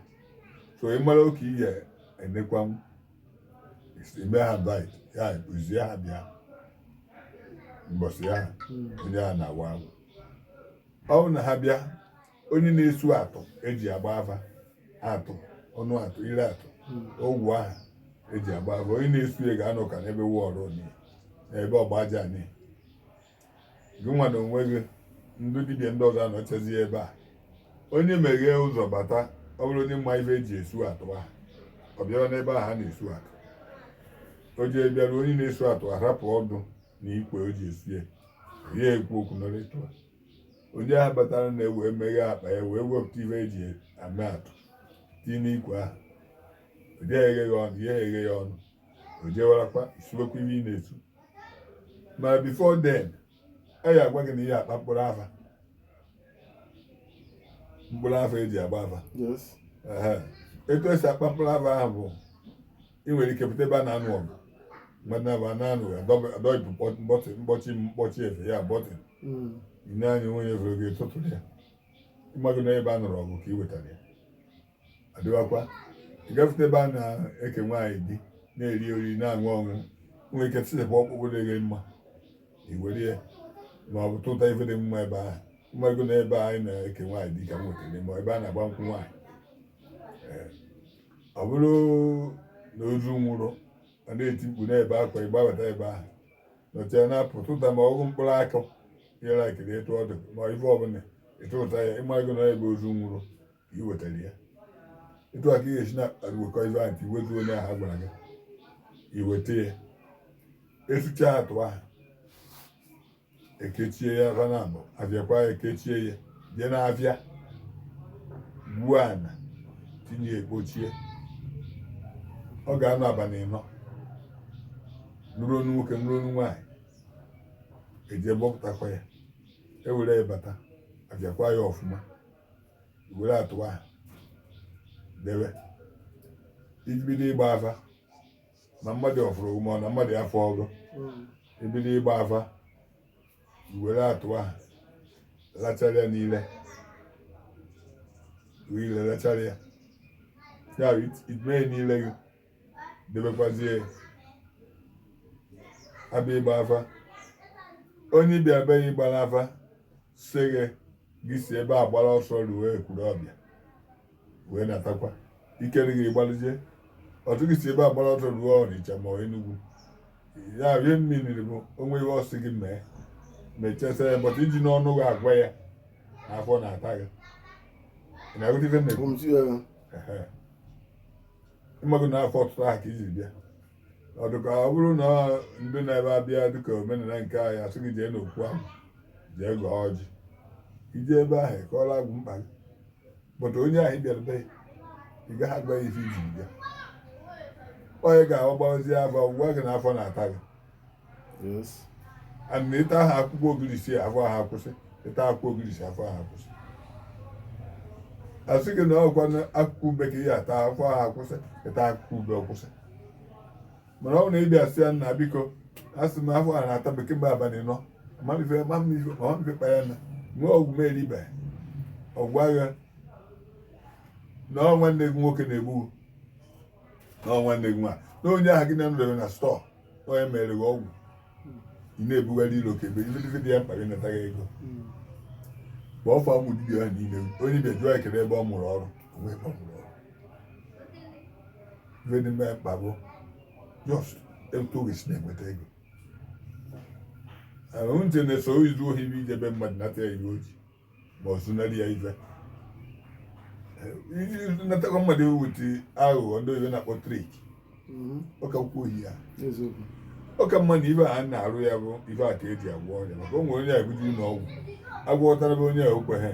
so ị mara oke ị ya-enekwanwu ime ha invite ya kụzie ha bịa mbọsị ya onye a na-awa agwụ ọ bụrụ na ha bịa onye na-esu atụ eji agba afa atụ ọnụ atụ ire atụ ọgwụ ahụ eji agba afa onye na-esu ya ga-anọ ka n'ebe wọọrọ ni n'ebe ọgba aja ni gị nwa na onwe gị ndị dibịa ndị ọzọ anọchazi ebe a onye meghee ụzọ bata ọ bụrụ onye ma ife eji esu atụ ahụ ọ bịara n'ebe ahụ a na-esu atụ o ji bịara onye na-esu atụ arapụ ọdụ na ikwe o ji esu ya ya ekwu okwu nọrọ etu a onye ahụ batara na ewee meghee akpa ya wee wepụta ife eji eme atụ tinye n'ikwe ahụ ọ dị eghe ya ọnụ ya eghe ya ọnụ o jewarakwa isuwekwa ihe ị na-esu ma before then a ya agwa gị na ị ya akpa mkpụrụ afa mkpụrụ afa eji agba afa etu esi akpa mkpụrụ afa ahụ bụ ị nwere ike pụta ebe a na-anụ ọgụ mmadụ abụọ na-anụ adọghịpụ mkpọchi mkpọchi mkpọchi efe ya button hmm. ị na-anya onye fere gị tụtụrụ ya ịmago na ebe a nụrụ ọgụ ka ị wetara ya adịwakwa ị gafete ebe a na-eke nwaanyị di na-eri oriri na-aṅụ ọṅụ nwere ike tisepụ ọkpụkpụ dị gị mma iwere ya ma ọ bụ tụta ife dị mma ebe ahụ ịmago na ebe anyị na-eke nwaanyị di ka i wetara ma ebe a na-agba nkwụ nwaanyị ọ bụrụ na ozu nwụrụ a na-eti mkpu n'ebe akwa ịgbabata ebe ahụ nọchaa na-apụ tụta ma ọ bụ mkpụrụ akụ yere akịrị etu ọ dị ma ife ọbụla ịtụta ya ịmago na ebe ozu nwụrụ i wetara ya etu a ka ị ga-esi na-akpakọ ife ahụ ka iwetu onye ahụ gwara gị iweta ya esucha atụ ahụ ekechie ya aka naabọ abịakwa ya ekechie ya jee n'afịa gbuo ana tinye ya ekpochie ọ ga-anọ abalị ịnọ nụrụ onu nwoke nụrụ onu nwaanyị eje bọpụtakwa ya ewere ya bata abịakwa ya ọfụma were atụ ahụ debe ibido ịgba afa na mmadụ ọ fụrụ gị ma na mmadụ afụrọ gị ibido ịgba afa were atụ ahụ lachara ya n'ire were ire lachara ya ya ime n'ire gị debekwazie abịa ịgba afa onye ị bịa be ya ịgba afa sị gị gị si ebe a gbara ọsọ ruo ekwulọbịa wee natakwa ikere gị ị gbalụzie ọtụ gị si ebe a gbara ọsọ ruo ọnịcha ma enugwu ya rie mmiri bụ o nwee ihe ọ sị gị mee mechasa ya bọta i ji ọnụ gị agwa ya afọ na-ata gị ị na-aghọta ife m na-ekwu ị mago na afọ ọtịta ahụ ka i ji bịa ọ dịka ọ bụrụ na ndị na-ebe abịa dịka omenala nke anyị a sị gị jee n'okwu ahụ jee gọọ ọjị i jee ebe ahụ kọọrọ agwụ mkpa gị pụta onye ahụ ị bịara be ya ị gaghị agwa ya ife i ji bịa ọ ya ga-agbazi afa gwa gị na afọ na-ata gị na ị taa akwụkwọ ogirisi afọ ahụ akwụsị ị taa akwụkwọ ogirisi afọ ahụ akwụsị a sị gị na ọ kwa akwụkwọ ube ka ị ya-ata afọ ahụ akwụsị ị taa akwụkwọ ube ọ kwụsị mana ọ bụ na ị bịa sị ya nna biko a sị m afọ a na-ata m kemgbe abalị anọ mamife mamife mamife kpa ya na nwee ọgwụ m eribe ọ gwa gị na ọ nwanne gị nwoke na-egbu na ọ nwanne gị nwaanyị na onye ahụ gị na ya nọdebe na store onye mere gị ọgwụ ị na-ebugharị ilo ka ebe ililizi dị ya mkpa gị nata gị ego mgbe ọfọ agwụ dibịa ahụ niile onye bịa jụọ ya kedu ebe ọ mụrụ ọrụ o nwerọ ebe ọ mụrụ ọrụ ife dị ya mkpa bụ just etu ọ ga-esi na-enweta ego ahụ ntị na-eso izu ohi bụ ije be mmadụ nata ya ihe o ji ma ọ zunarị ya ife natakwa mmadụ ewuti aghụghọ ndị oyibo na-akpọ trick ọ ka mhm. kwuo ya ọ ka mma na ife a na-arụ ya bụ ife a ka eji agwọ ọrịa maka o nwere onye e buje ụlọ ọgwụ agwọtara bụ onye o kweghị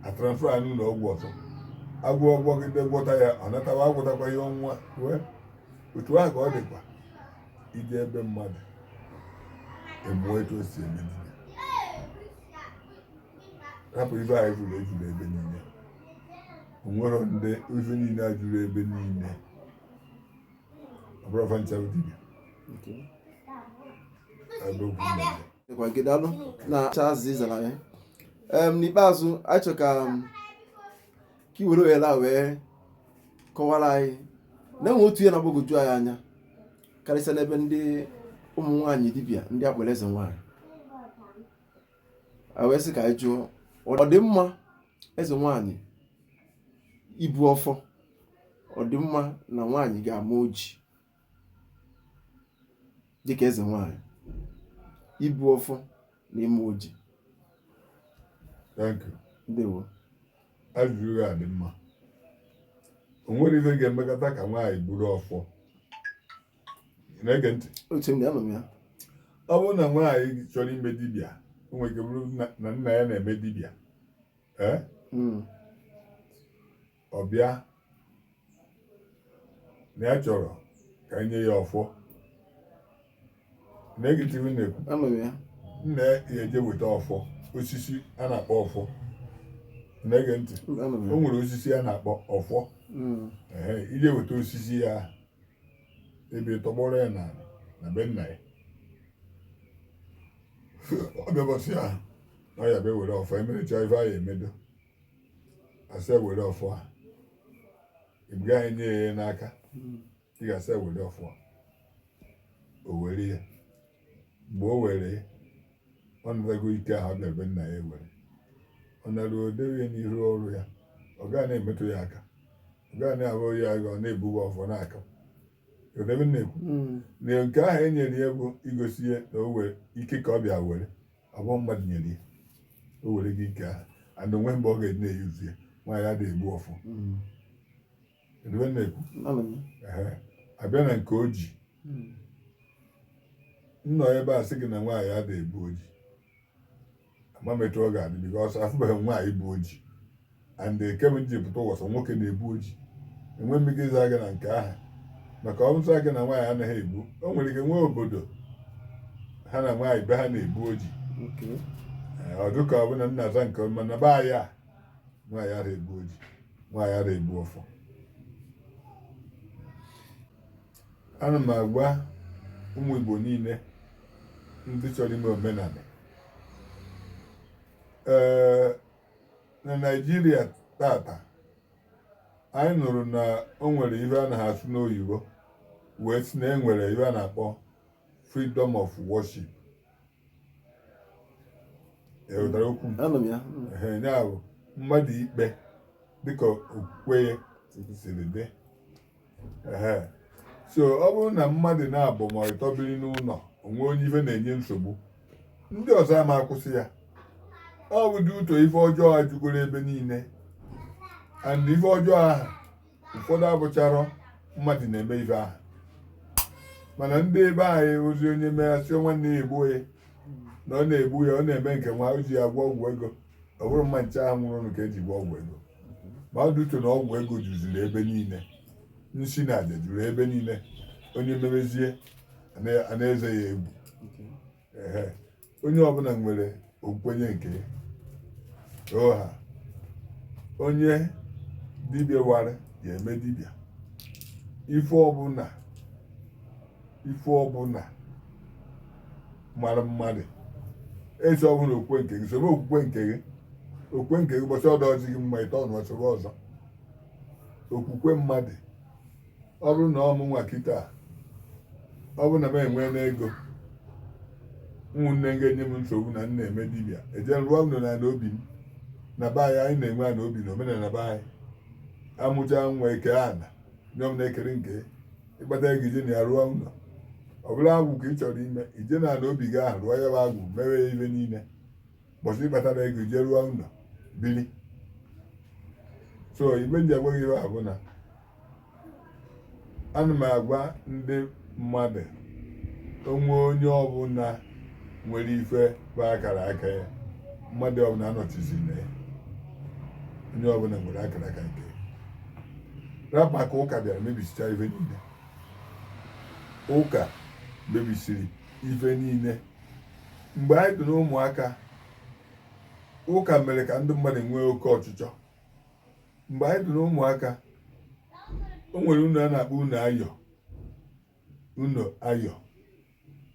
a transfer ya n'ụlọ ọgwụ ọzọ a gwọọ gwọgide gwọta ya ọ natawa agwọtakwa ya ọnwa wee otu ahụ ka ọ dịkwa i jee be mmadụ ị mụọ etu o si eme hapụ ife ndị a juru eju ebe niile o nwere ndị ife niile a juru ebe niile ọ bụrọ fa ncha bụ dibịa ebe okwu na-eme dịkwa gị daalụ na acha azịza ị zara ya em n'ikpeazụ anyị chọrọ ka um, ka i were ohere a wee kọwara anyị na e nwere otu ihe na-agbagwoju anyị anya karịsịa n'ebe ndị ụmụ nwaanyị dibịa ndị a kpọrọ eze nwaanyị a wee sị ka anyị jụọ ọ dị mma eze nwaanyị ibu ọfọ ọ dị mma na nwaanyị ga-ama oji dịka eze nwaanyị ibu ọfọ n'ime oji thank you ndewo ajụjụ gị a dị mma o nwere ife ga-emekata ka nwaanyị buru ọfọ ị na-ege ntị anọ m ya ọ bụrụ na nwaanyị chọrọ ime dibịa o nwere ike bụrụ na nna ya na-eme dibịa ee hmm. ọ bịa na ya chọrọ ka e nye ya ọfọ na-ege ntị m na-ekwu Anọ m ya. nna ya eje weta ọfọ osisi a na-akpọ ọfọ na-ege ntị Anọ m ya. o nwere osisi a na-akpọ ọfọ Mm. ehe e je weta osisi ya ebe tọgbọrọ ya na na be nna ya ọ bịa ụbọsị ya na ọ ya bịa were ọfọ emerecha ife a ya-emedo a sị ya were ọfọ a e buro ya nye ya n'aka ị ga-asị ya were ọfọ a o were ya mgbe o were ya ọ natago ike ahụ bịa be nna ya were ọ nara o dewe ya n'ihu ọrụ ya ọ gaa na-emetụ ya aka ọ gaa na-ahụ ya agha ọ na-ebugo ọfọ n'aka odebe na-ekwu na nke ahụ e nyere ya bụ igosi ya na o nwere ike ka ọ bịa were abụrọ mmadụ nyere ya o werego ike ahụ and o nwerọ mgbe ọ ga-eji na-ebuzi ya nwaanyị adịghị ebu ọfọ mm. edebe na-ekwu a bịa na nke oji mm. m nọ ebe a sị gị na nwaanyị adịghị ebu oji ama m etu ọ ga-adị because afụbeghị m nwaanyị bu oji and kemgbe m ji pụta ụwa sọ nwoke na-ebu oji enwe m ike ịza gị na nke ahụ maka ọ bụ m sị gị na nwaanyị anaghị ebu o nwere ike nwee obodo ha na nwaanyị be ha na-ebu oji Okay. Ee, ọ dịka ọ bụ na m na-aza nke ọma na be anyị a nwaanyị ara ebu oji nwaanyị ara ebu ọfọ ana m agwa ụmụ Igbo niile ndị chọrọ ime omenala ee na Naịjirịa tata anyị nụrụ na o nwere ihe a na-asụ n'oyibo wee sị na e nwere ihe a na-akpọ freedom of worship i nwetara okwu m anọ m ya ya bụ mmadụ ikpe dịka okwukwe ya siri dị so ọ bụrụ na mmadụ naabọ ma ịtọ biri n'ụnọ o nwee onye ife na-enye nsogbu ndị ọzọ ama akwụsị ya ọ bụ dị ụtọ ife ọjọọ a jugoro ebe niile and ife ọjọọ ahụ ụfọdụ abụcharọ mmadụ na-eme ife ahụ mana ndị be anyị ozi onye meghachi nwanne ya egbuo ya na ọ na-egbu ya ọ na-eme nke nwa o ji ya gwọ ọgwụ ego ọ bụrụ mma nche ahụ nwụrụ ka eji gwọ ọgwụ ego mmadụ eche na ọgwụ ego juziri ebe niile nsi na aja juru ebe niile onye mebezie a na-eze ya egwu ee onye ọbụla nwere okwenye nke oha onye dibịa wara ya eme dibịa ife ọbụla ife ọbụla mara mmadụ esi ọbụla okwukwe nke gị soro okwukwe nke gị okwukwe nke gị mbọsị ọ dịrọzị gị mma ị tọnụọ soro ọzọ okwukwe mmadụ ọ bụrụ na ọ mụnwa kịta ọ bụ na m enwene ego ụmụnne m ga-enye m nsogbu na m na-eme dibịa eje rụọ ụlọ na ana obi m na be anyị anyị na-enwe ana obi na omenala be anyị amụcha nwa eke ana nye m na-ekere nke ị kpata ego i je na ya rụọ ụlọ ọ bụ na agwụ ka ị chọrọ ime i je na ala obi gị ahụ rụọ ya bụ agwụ mewe ya ife niile mbọsị ị kpatara ego i je rụọ ụlọ bili so ife m ji agwa gị bụ na ana m agwa ndị mmadụ onwe onye ọbụla nwere ife bụ akara aka ya mmadụ ọbụla anọchizina ya onye ọbụla nwere akara aka nke ya rapụ ka ụka bịara mebisicha ife niile ụka mebisiri ife niile mgbe anyị dị n'ụmụaka ụka mere ka ndị mmadụ nwee oke ọchịchọ mgbe anyị dị n'ụmụaka o nwere ụnọ a na-akpọ ụnọ ayọ ụnọ ayọ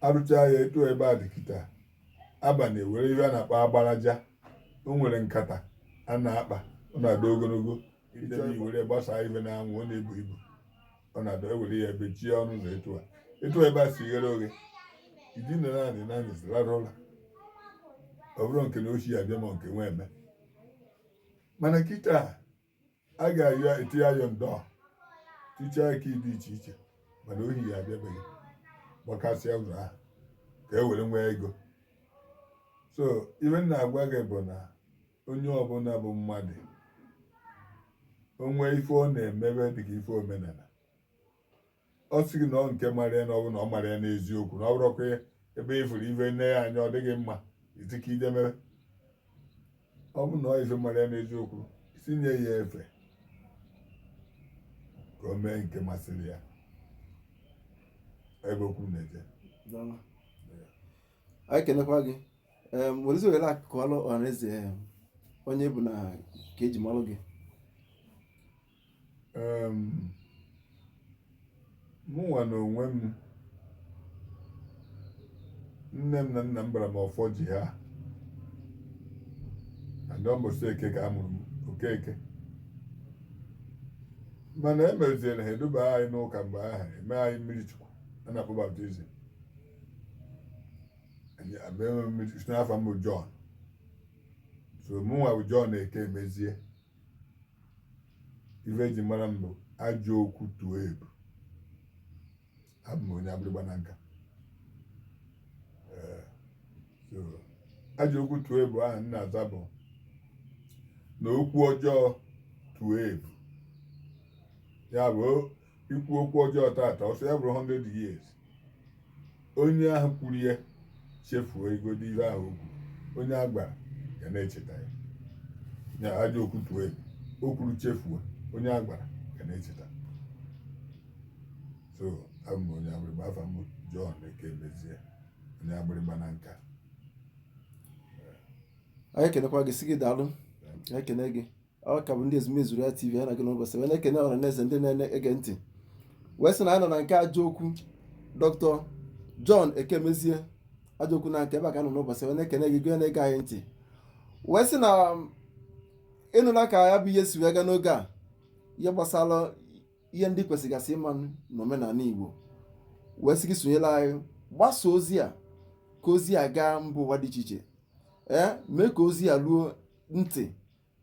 arụcha ya etu ebe a dị kịta abalị e were ife a na-akpọ agbaraja o nwere nkata a na-akpa ọ na-adị ogologo ide na i were gbasaa ife n'anwụ ọ na-ebu ibu ọ na-adị e were ya bechie ọnụ ụzọ etu a etu ebe a si ghere oghe i dina naanị naanị zi rarụ ụla ọ bụrọ nke na ohi ya-abịa ma nke nwe eme mana kịta a ga-eti iron door tichaa key dị iche iche mana ohi ya-abịa be gị gbakasịa ụzọ ahụ ka e were nwee ego so ife m na-agwa gị bụ na onye ọbụla bụ mmadụ o nwe ife ọ na-emebe dịka ife omenala ọ sị gị na ọ nke mara ya na ọ bụ na ọ mara ya n'eziokwu na ọ bụrọkwa ebe ị fụrụ ife nee ya anya ọ dị gị mma ị sị ka i je mee ọ bụ na ọ ife mara ya n'eziokwu si nye ya efe ka o mee nke masịrị ya ebe okwu m na-eje anyị kenekwa gị ee werezi ohere a kọọlụ ọhaneze em, onye ị bụ na ka eji malụ gị Em, mụnwa na onwe m nne m na nna m bara m ọfọ ji ha ada mbọsị eke ka a mụrụ m okeke mana e meziere ha eduba anyị n'ụka mgbe ahụ eme anyị mmiri chukwu a na-akpọ baptizim sị na afa m bụ John so mụnwa bụ John Ekemezie ife eji mara m bụ ajọ okwu tuo ebu abụ m onye Agbịrịgba Nanka Ee, so, ajọ okwu tuo ebu ahụ m na-aza bụ na okwu ọjọọ tuo ebu ya bụ o- i kwuo okwu ọjọọ tata ọ sọ ya bụrụ 100 years onye ahụ kwuru ya chefuo igodo ihe ahụ okwu onye a gwara ya na-echeta ya nya ajọ okwu tuo ebu o kwuru chefuo onye a gwara ya na-echeta so abụ m onye agbịrịgba afa m John Ekemezie onye agbịrịgba Nanka anyị ekenekwa gị sị gị daalụ ekene gị ọ ka bụ ndị ezumezu ya tv ha na-aga n'ụbọchị wee na-ekene ọha na eze ndị na-ege ntị wee sị na a nọ na nke ajọokwu dr john ekemezie ajọokwu Nanka ebe a ka a nọ n'ụbọchị wee na-ekene gị gụọ na-ege anyị ntị wee sị na um, ịnụla ka ya bụ ihe si wee gaa n'oge a ihe gbasara ihe ndị kwesịgasị ịma n'omenala igbo wee sị gị sonyela anyị gbasa ozi a ka ozi a gaa mba ụwa dị iche iche ee mee ka ozi a ruo ntị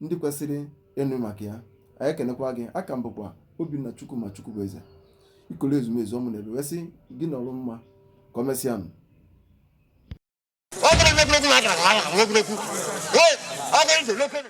ndị kwesịrị ịnụ maka ya anyị ekenekwa gị aka m bụkwa obinna chukwu ma chukwu bụ eze ikolo ezumezu ọmụ na ebe wee sị gị na ọrụ mma ka o mesịa m Ọ bụrụ na egwuregwu na-adara na ya na egwuregwu. Ee, ọ bụrụ na egwuregwu